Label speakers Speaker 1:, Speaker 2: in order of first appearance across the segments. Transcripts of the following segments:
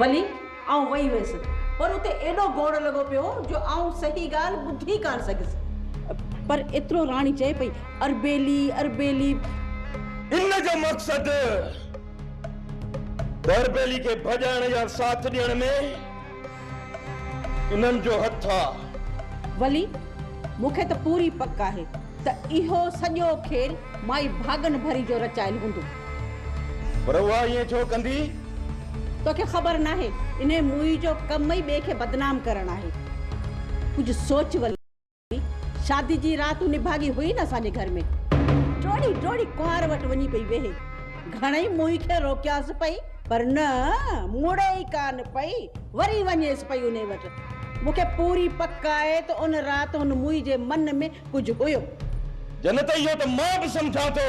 Speaker 1: ولي آئون وئي هيس پر اتي ايڏو گوڙ لڳو پيو هو جو آئون صحيح ڳالهه ٻڌي ڪانه سگهيس. پر ايترو راڻي چئي پئي، اربيلي، اربيلي. ان
Speaker 2: جو مقصد ته اربيلي کي ڀڄائڻ يا ساٿ ڏيڻ ۾. انهن جو هٿ آ. ولي،
Speaker 1: مون کي ته پوري پڪ آهي ته اهو سڄو کيل مائي ڀاڳن ڀري جو رچايل هوندو. پر
Speaker 2: اها ائين ڇو ڪندي؟ توکي
Speaker 1: خبر ناهي، انهيء موئي جو ڪم ئي ٻئي کي بدنام ڪرڻ آهي. ڪجهه سوچ ولي. شادي جي رات نڀاڳي هئي نه اسان جي گهر ۾، ڊوڙي ڊوڙي ڪنوار وٽ وڃي پئي ويهي. گهڻئي موهي کي روڪيانس پئي پر نه مڙي ئي ڪانه پئي، وري وڃيس پئي انهي وٽ. مون کي پوري پڪ آهي ته ان رات هن موهي جي من ۾ ڪجهه هيو. جنت اهو
Speaker 2: ته مان به سمجهان ٿو.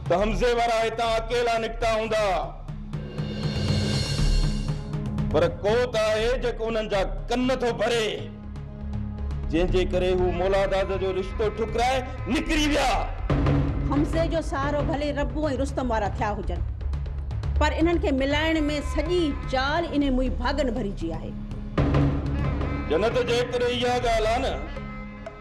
Speaker 2: ته حمزي وارا هتان اڪيلا نڪتا هوندا ها، پر ڪو ته آهي جيڪو انهن جا ڪن ٿو ڀري، جنهن جي ڪري هو مولاداد جو رشتو ٺڪرائي نڪري ويا. حمزي
Speaker 1: جو سهارو ڀلي ربو ۽ رستم وارا ٿيا هجن، پر انهن کي ملائڻ ۾ سڄي چال انهي موئي ڀاڳن ڀري جي آهي.
Speaker 2: جنت جيڪڏهن اها ڳالهه آ نه.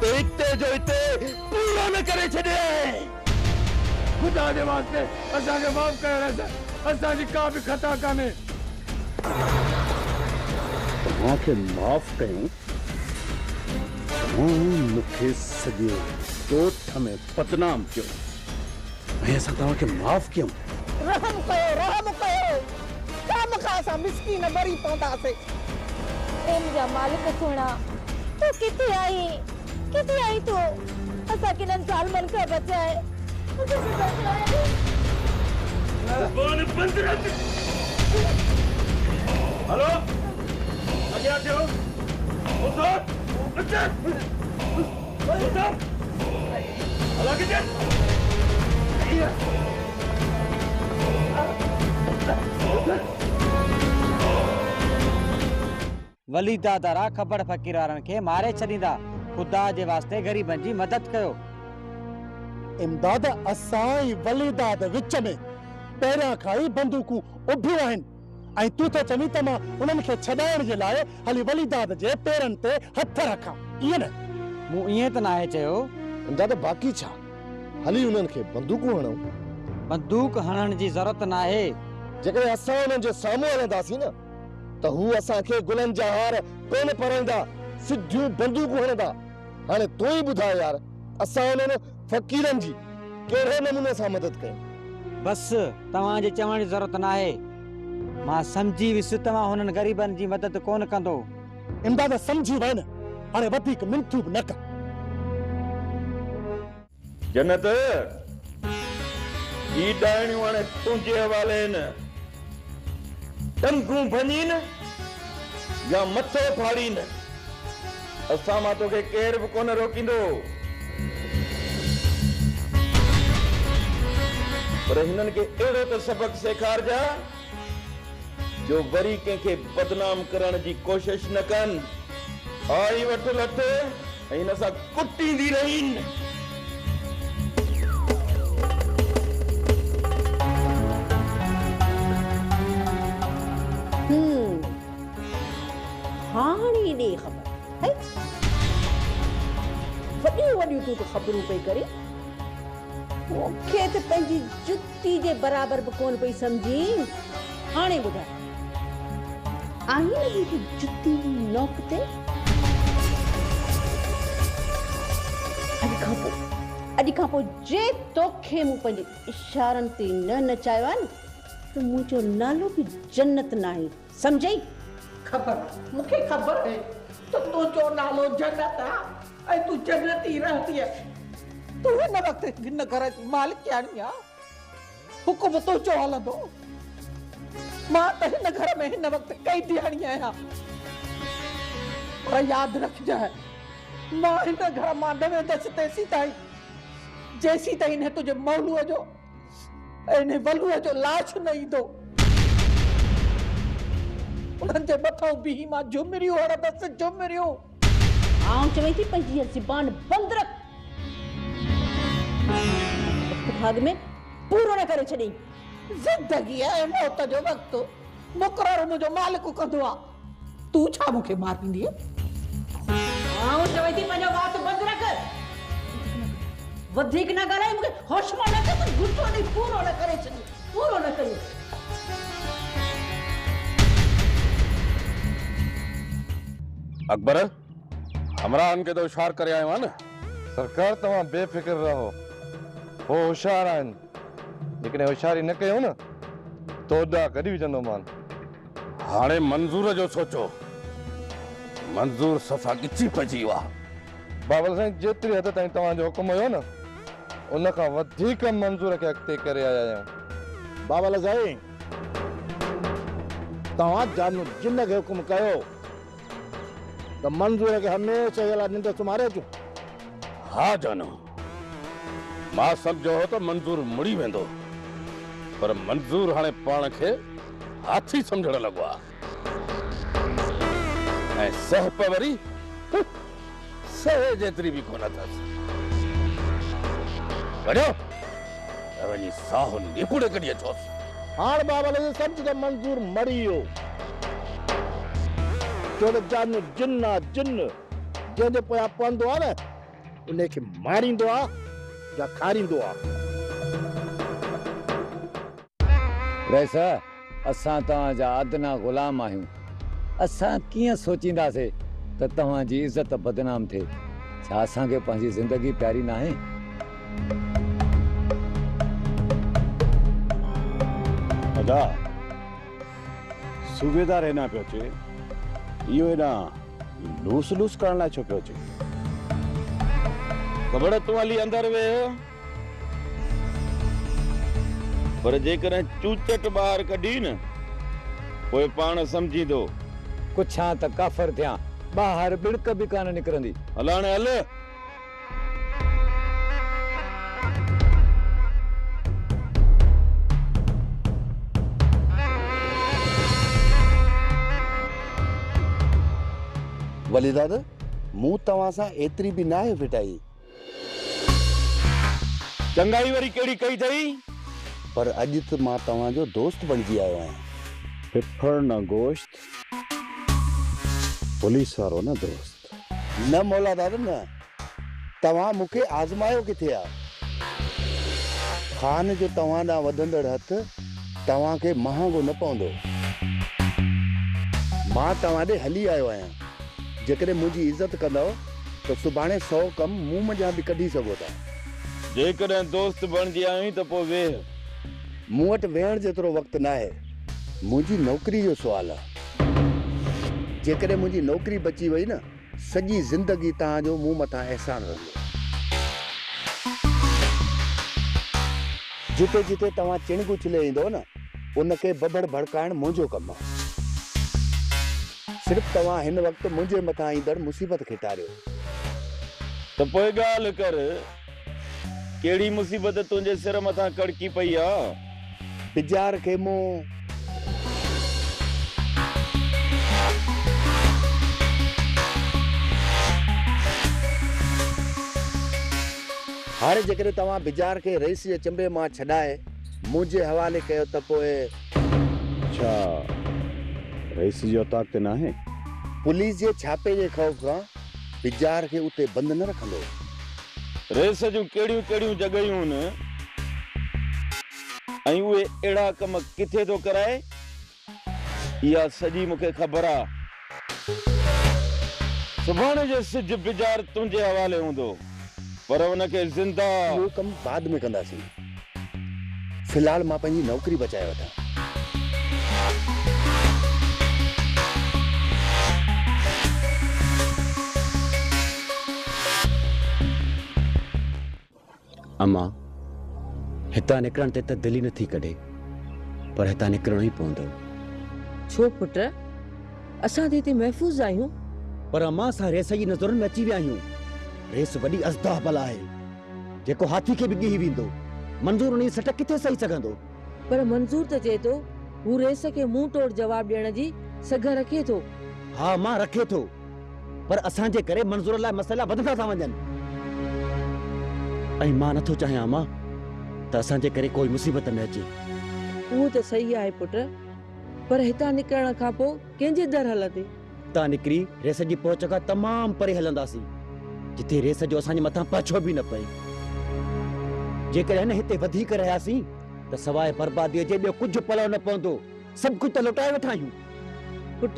Speaker 2: ته اتي جو اتي پورو نه ڪري ڇڏيئي.
Speaker 3: خدا جي واسطي اسان کي معاف ڪيو رحه سائين اسان جي ڪا به خطا ڪانهي.
Speaker 4: توهان کي معاف ڪيون توهان مون کي سڄي ڳوٺ ۾ بدنام ڪيو. ۽ اسان توهان کي معاف ڪيون. رحم ڪيو
Speaker 5: رحم ڪيو خامخا اسان مسڪين مري پونداسين. اي
Speaker 6: منهنجا مالڪ سهڻا تون ڪٿي آهين ڪٿي آهين تون اسان کي انهن ظالمن کان بچاء اسان کي
Speaker 2: بچاء.
Speaker 7: وليد دادا را کبڙ فقير وارن کي ماري ڇڏيندا خدا جي واسطي غريبن جي مدد ڪيو.
Speaker 4: امداد اسان ۽ وليداد وچ ۾ پهريان کان ئي بندوقون اڀيون آهن. ۽ تون ٿو چوين ته مان انهن کي ڇڏائڻ جي لاء هلي وليداد جي پيرن تي هٿ رکان، ائين نه؟ مون ائين ته ناهي
Speaker 7: چيو. دادا باقي
Speaker 8: ڇا؟ هلي انهن کي بندوقون هڻون. بندوق
Speaker 7: هڻڻ جي ضرورت ناهي. جيڪڏهن اسان
Speaker 8: انهن جي سامهون هلنداسين نه ته هو اسان کي گلن جا هار ڪونه پرائيندا، سڌيون بندوقون هڻندا. هاڻي تون ئي ٻڌاء يار، اسان انهن. فقيرن جي ڪهڙي نموني سان مدد ڪيو؟ بس، توهان
Speaker 7: جي چوڻ جي ضرورت ناهي. مان سمجهي ويس توهان هنن غريبن جي مدد ڪونه ڪندو. امداد
Speaker 4: سمجهي وين هاڻي وڌيڪ منٿون به نه ڪر.
Speaker 2: جنت، هي ڏاهڻيون هاڻي تنهنجي حوالي هن ٽنگون ڀڃين يا مٿو ڦاڙين. اسان مان توکي ڪير به ڪونه روڪيندو. پر هنن کي اهڙو ته سبق سيکارجاء جو وري ڪنهن کي بدنام ڪرڻ جي ڪوشش نه ڪن. آء ئي وٺ لٺ ۽ هن سان ڪٽيندي رهين.
Speaker 1: هاڻي ڏي خبر هي وڏيون وڏيون تون ته خبرون پئي ڪرين مون کي ته پنهنجي جتي جي برابر به ڪونه پئي سمجهين هاڻي ٻڌاء آهين جي ته جتي نوڪ تي اڄ کان پوء اڄ کان پوء جي توکي مون پنهنجي اشارن تي نه نچايو آهي نه ته منهنجو نالو به جنت ناهي سمجهئي. خبر
Speaker 5: مون کي خبر هي ته تنهنجو نالو جنت آ ۽ تون جنت ئي رهنديء. تون هن وقت هن گهر جي مالڪياڻي آ حڪم تنهنجو هلندو. مان ته هن گهر ۾ هن وقت قيدياڻي آهيان. پر ياد رکجانء مان هن گهر مان نه ويندس تيسيتائين جيسيتائين هن تنهنجي مولوء جو ۽ انهي ولوء جو لاش نه ايندو. انهن جي مٿئون بيهي مان جهمريون هڻندس، جهمريون! آئون
Speaker 1: چوين ٿي پنهنجي هيء زبان بند رک. وقت ڀاڳ ۾ پورو نه ڪري ڇڏين. زندگيء
Speaker 5: ۽ موت جو وقت مقرر منهنجو مالڪ ڪندو آ. تون ڇا مون کي مار ڏيندينء؟ آئون
Speaker 1: چوين ٿي پنهنجو وات بند رک. وڌيڪ نه ڳالهاء مون کي هوش مان نه ڪڍ. غصو ڏئي پورو نه ڪري ڇڏ. پورو نه ڪيو.
Speaker 3: اڪبر همراهن کي ته هوشيار ڪري آيو آهيان نه؟ سرڪار توهان
Speaker 8: بي فڪر رهو. هو هوشيار آهن. جيڪڏهن هوشياري نه ڪيون نه تو ڏا ڪڍي وجهندومان. هاڻي
Speaker 3: منظور جو سوچو. منظور صفا ڳچي پئجي ويو آهي. بابل سائين
Speaker 8: جيتري حد تائين توهان جو حڪم هيو نه ان کان وڌيڪ منظور کي اڳتي ڪري آيا آهيون. بابل سائين
Speaker 4: توهان جان جن کي حڪم ڪيو ته منظور کي هميشه جي لاء ننڊ سمهاري اچون. ها
Speaker 3: جانو. مان سمجهيو هو ته منظور مڙي ويندو پر منظور هاڻي پاڻ کي هاٿي سمجهڻ لڳو آهي ۽ سهپ وري سهي جيتري به ڪونه اٿس. وڃو ته وڃي ساهو نيپوڙي ڪڍي اچوس. هاڻ بابا لڳي
Speaker 4: سمجهه ته منظور مري ويو ڇو ته جان جن آهي جن جنهن جي پويان پنڌ هو نه انهي کي ماريندو آ يا کاريندو آ.
Speaker 9: رئيس! اسان توهان جا ادنيٰ غلام آهيون. اسان ڪيئن سوچينداسي ته توهان جي عزت بدنام ٿئي. ڇا اسان کي پنهنجي زندگي پياري ناهي؟
Speaker 3: ادا! صوبيدار هيڏانهن پيو اچي. اهو هيڏانهن. لوس لوس ڪرڻ لاء ڇو پيو اچين؟
Speaker 2: کبڙ تون هلي اندر ويهه. پر جيڪڏهن چوچٽ ٻاهر ڪڍي نه پوء پاڻ سمجهيندو. ڪڇان
Speaker 9: ته ڪافر ٿيان. ٻاهر ٻڙڪ به ڪانه نڪرندي. هل هاڻي هل.
Speaker 8: ولي دادا مون توهان سان ايتري به ناهي ڦٽائي.
Speaker 2: چڱائي وري ڪهڙي ڪئي اٿئي؟ پر
Speaker 8: اڄ ته مان توهان جو دوست بڻجي آيو آهيان. ڦڦڙ
Speaker 3: نه گوشت. پوليس وارو نه دوست. نه مولا
Speaker 8: داد نه، توهان مون کي آزمايو ڪٿي آ؟ خان جو توهان ڏانهن وڌندڙ هٿ توهان کي مهانگو نه پوندو. مان توهان ڏي هلي آيو آهيان، جيڪڏهن منهنجي عزت ڪندؤ ته سڀاڻي سؤ ڪم مون منجهان به ڪڍي سگهو ٿا. جيڪڏهن
Speaker 2: دوست بڻجي آيوئين ته پوء ويهه. مون وٽ
Speaker 8: ويهڻ جيترو وقت ناهي. منهنجي نوڪري جو سوال آ. جيڪڏهن منهنجي نوڪري بچي وئي نه سڄي زندگي توهان جو مون مٿان احسان رهندو. جتي جتي توهان چڻگ اڇلي ايندؤ نه ان کي ببڙ ڀڙڪائڻ منهنجو ڪم آ. صرف توهان هن وقت منهنجي مٿان ايندڙ مصيبت کي ٽاريو.
Speaker 2: ته پوء ڳالهه ڪر. ڪهڙي مصيبت تنهنجي سر مٿان ڪڙڪي پئي آ. بجار
Speaker 8: کي مون. هاڻي جيڪڏهن توهان بجار کي رئيس جي چنبي مان ڇڏائي منهنجي حوالي ڪيو ته پوء. ڇا
Speaker 3: رئيس جي اوطاق تي ناهي؟ پوليس جي
Speaker 8: ڇاپي جي خوف کان. پجار کي اتي بند نه رکندو. ريس
Speaker 2: جون ڪهڙيون ڪهڙيون جڳهيون هن ۽ اهي اهڙا ڪم ڪٿي ٿو ڪرائي اها سڄي مون کي خبر آ. سڀاڻي جو سج پجار تنهنجي حوالي هوندو. پر ان کي زنده. اهو ڪم بعد
Speaker 8: ۾ ڪنداسين. في الحال مان پنهنجي نوڪري بچائي وٺان.
Speaker 10: امان، هتان نڪرڻ تي ته دل ئي نٿي ڪڍي، پر هتان نڪرڻو ئي پوندو. ڇو
Speaker 11: پٽ؟ اسان ته هتي محفوظ آهيون. پر امان اسان
Speaker 10: ريس جي نظرن ۾ اچي ويا آهيون. ريس وڏي اژدها بل آهي. جيڪو هاٿي کي به ڳهي ويندو. منظور انهيء سٽ ڪٿي سهي سگهندو؟ پر منظور
Speaker 11: ته چئي ٿو هو ريس کي منهن ٽوڙ جواب ڏيڻ جي سگهه رکي ٿو. ها امان رکي
Speaker 10: ٿو. پر اسان جي ڪري منظور لاء مسئلا وڌندا ٿا وڃن. ۽ مان نٿو چاهيان امان ته اسان جي ڪري ڪوئي مصيبت ۾ اچي. اهو ته
Speaker 11: سهي آهي پٽ. پر هتان نڪرڻ کان پوء ڪنهن جي در هلندي؟ هتان نڪري
Speaker 10: ريس جي پهچ کان تمام پري هلنداسين، جتي ريس جو اسان جي مٿان پاڇو به نه پئي. جيڪڏهن هتي وڌيڪ رهياسين ته سواء برباديء جي ٻيو ڪجهه پلئه نه پوندو. سڀ ڪجهه ته لوٽائي وٺا آهيون. پٽ!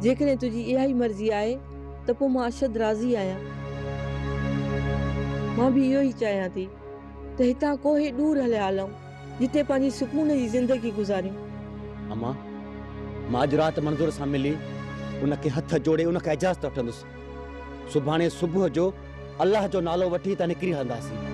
Speaker 11: جيڪڏهن تنهنجي اها ئي مرضي آهي ته پوء مان اشد راضي آهيان. مان به اهو ئي چاهيان ٿي ته هتان ڪوهي ڏور هليا هلئون. جتي پنهنجي سڪون جي زندگي گذاريون. امان،
Speaker 10: مان اڄ رات منظور سان ملي ان کي هٿ جوڙي ان کان اجازت وٺندس. سڀاڻي صبح جو الله جو نالو وٺي اتان نڪري هلنداسين.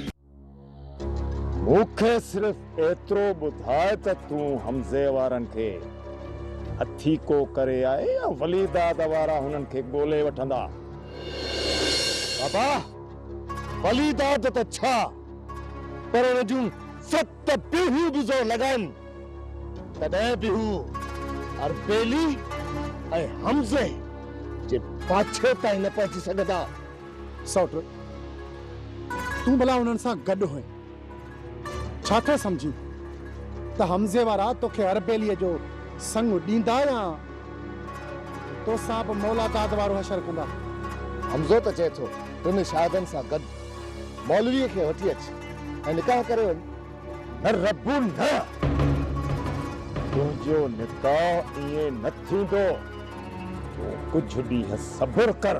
Speaker 8: مون کي صرف ايترو ٻڌاء ته تون حمزي وارن کي هٿي ڪو ڪري آء يا ولي داد وارا هنن کي ڳولي وٺندا؟ بابا، ولي داد ته ڇا پر ان جون ست پيڙهيون به زور لڳائن تڏهن به هو اربيلي ۽ حمزي جي پاڇي تائين نه پهچي سگهندا. سئوٽ،
Speaker 4: تون ڀلا انهن سان گڏ هئين، ڇا ٿو سمجهين ته حمزي وارا توکي هر ٻيلي جو سڱ ڏيندا يا تو سان به مولا داد وارو حشر ڪندا؟ حمزو ته
Speaker 8: چئي ٿو ٽن شاهدن سان گڏ مولويء کي وٺي اچ ۽ نڪاح ڪري وڃ. نه رب نه! تنهنجو نڪاح ائين نه ٿيندو. تون ڪجهه ڏينهن صبر ڪر.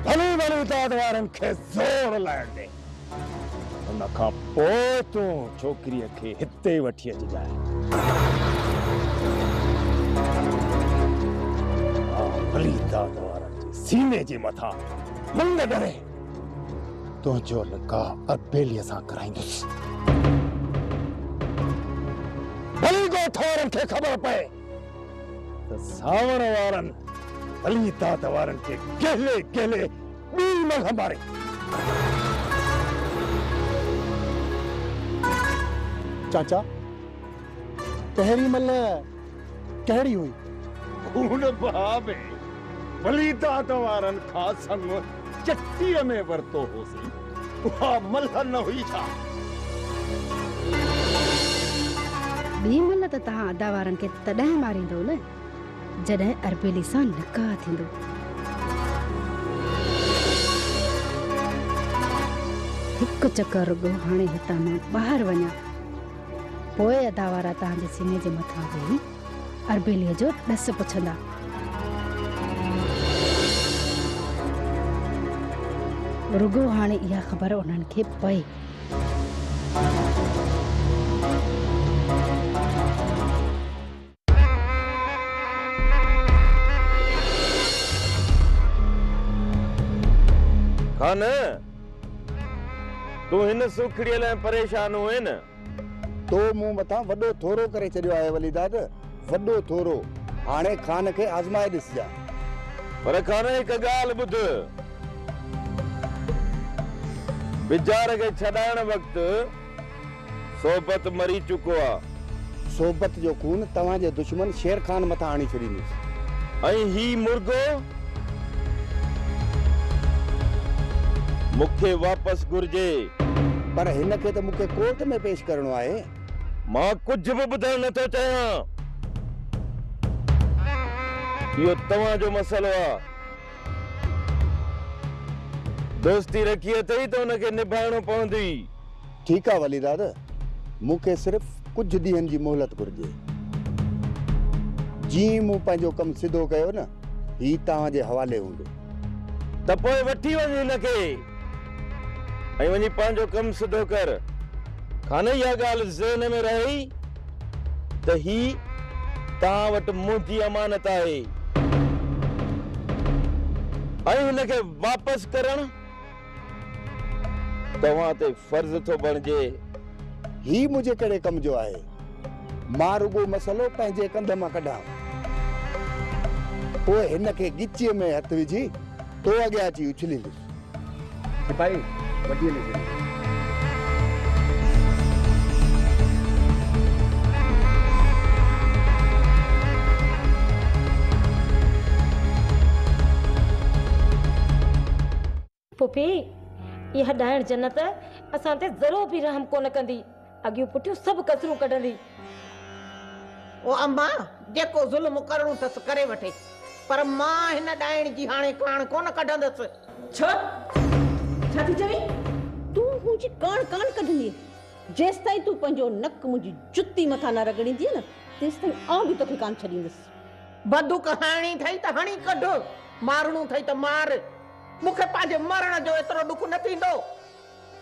Speaker 8: ڀلي ڀلي داد وارن کي زور لائڻ ڏي. ان کان پوء تون ڇوڪريء کي هتي وٺي اچجانء. مان ڀلي داد وارن جي سيني جي مٿان منڱ ڏري تنهنجو نڪاح اربيليء سان ڪرائيندس. ڀلي ڳوٺ وارن کي خبر پئي. ته سانوڻ وارن علي داد وارن کي ڪهلي ڪهلي ٻي ملهه ماري.
Speaker 4: چاچا پهرين ملهه ڪهڙي هئي؟ خون
Speaker 8: بها ۾ علي داد وارن کان سڱ چٽيء ۾ ورتو هوسين، اها ملهه نه هئي ڇا؟
Speaker 12: ٻي ملهه ته توهان ادا وارن کي تڏهن ماريندؤ نه، جڏهن اربيلي سان نڪاح ٿيندو. هڪ چڪر رڳو هاڻي هتان مان ٻاهر وڃان، پوء ادا وارا توهان جي سيني جي مٿان ويهي اربيليء جو ڏس پڇندا. رڳو هاڻي اها خبر انهن کي پئي.
Speaker 2: خان! تون هن سوکڙيء لاء پريشان هئين. تو
Speaker 8: مون مٿان وڏو ٿورو ڪري ڇڏيو آهي وليداد، وڏو ٿورو. هاڻي خان کي آزمائي ڏسجان. پر
Speaker 2: خان هڪ ڳالهه ٻڌ. بجار کي ڇڏائڻ وقت صحبت مري چڪو آ. صحبت جو خون
Speaker 8: توهان جي دشمن شير خان مٿان هڻي ڇڏيندس. ۽ هي
Speaker 2: مرغو؟ مون کي واپس گهرجي. پر هن
Speaker 8: کي ته مون کي ڪورٽ ۾ پيش ڪرڻو آهي. مان
Speaker 2: ڪجهه به ٻڌڻ نه ٿو چاهيان. اهو توهان جو مسئلو آهي. دوستي رکي اٿئي ته ان کي نڀائڻو پوندي. ٺيڪ آ
Speaker 8: ولي داد، مون کي صرف ڪجهه ڏينهن جي مهلت گهرجي. جيئن ئي مون پنهنجو ڪم سڌو ڪيو نه، هي توهان جي حوالي هوندو. ته پوء
Speaker 2: وٺي وڃ هن کي ۽ وڃي پنهنجو ڪم سڌو ڪر. کانئن اها ڳالهه ذهن ۾ رهئي ته هي توهان وٽ منهنجي امانت آهي ۽ هن کي واپس ڪرڻ توهان تي فرض ٿو بڻجي. هي
Speaker 8: منهنجي ڪهڙي ڪم جو آهي. مان رڳو مسئلو پنهنجي ڪنڌ مان ڪڍان. پوء هن کي ڳچيء ۾ هٿ وجهي تو اڳيان اچي اڇليندس. سپاهي وٽيء ۾ ڇڏيو.
Speaker 6: پڦي، اها ڏائڻ جنت اسان تي ذرو به رحم ڪونه ڪندي. اڳيون پٺيون سڀ ڪسرون ڪڍندي.
Speaker 5: او اماء! جيڪو ظلم ڪرڻو ٿس ڪري وٺي، پر مان هن ڏائڻ جي هاڻي ڪاڻ ڪونه ڪڍندس. ڇا؟
Speaker 1: ڇا ٿي چوين؟ تون منهنجي ڪاڻ ڪانه ڪڍندينء، جيستائين تون پنهنجو نڪ منهنجي جتي مٿان نه رڳڙيندينء نه، تيستائين آئون به توکي ڪانه ڇڏيندس. بدوڪ هڻڻي
Speaker 5: ٿئي ته هڻي ڪڍ، مارڻو ٿئي ته مار، مون کي پنهنجي مرڻ جو ايترو ڏک نه ٿيندو.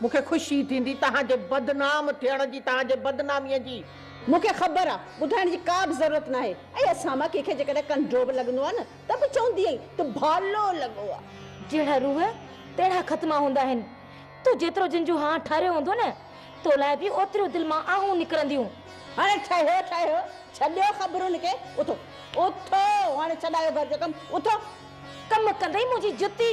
Speaker 5: مون کي خوشي ٿيندي توهان جي بدنام ٿيڻ جي، توهان جي بدناميء جي. مون کي خبر آ،
Speaker 1: ٻڌائڻ جي ڪا به ضرورت ناهي ۽ اسان مان ڪنهن کي جيڪڏهن ڪنڊو به لڳندو آ نه ته به چوندي ائين ته ڀالو لڳو آ. جهڙا روح،
Speaker 6: تهڙا ختما هوندا آهن. تو جيترو جن جون هان ٺاريو هوندو نه، تو لاء به اوتريون دل مان آهون نڪرنديون. هاڻي ٺهيو
Speaker 1: ٺهيو، ڇڏيو خبرن کي، اٿو. اٿو، هاڻي ڇڏايو گهر جو ڪم، اٿو. ڪم ڪندئي
Speaker 6: منهنجي جتي.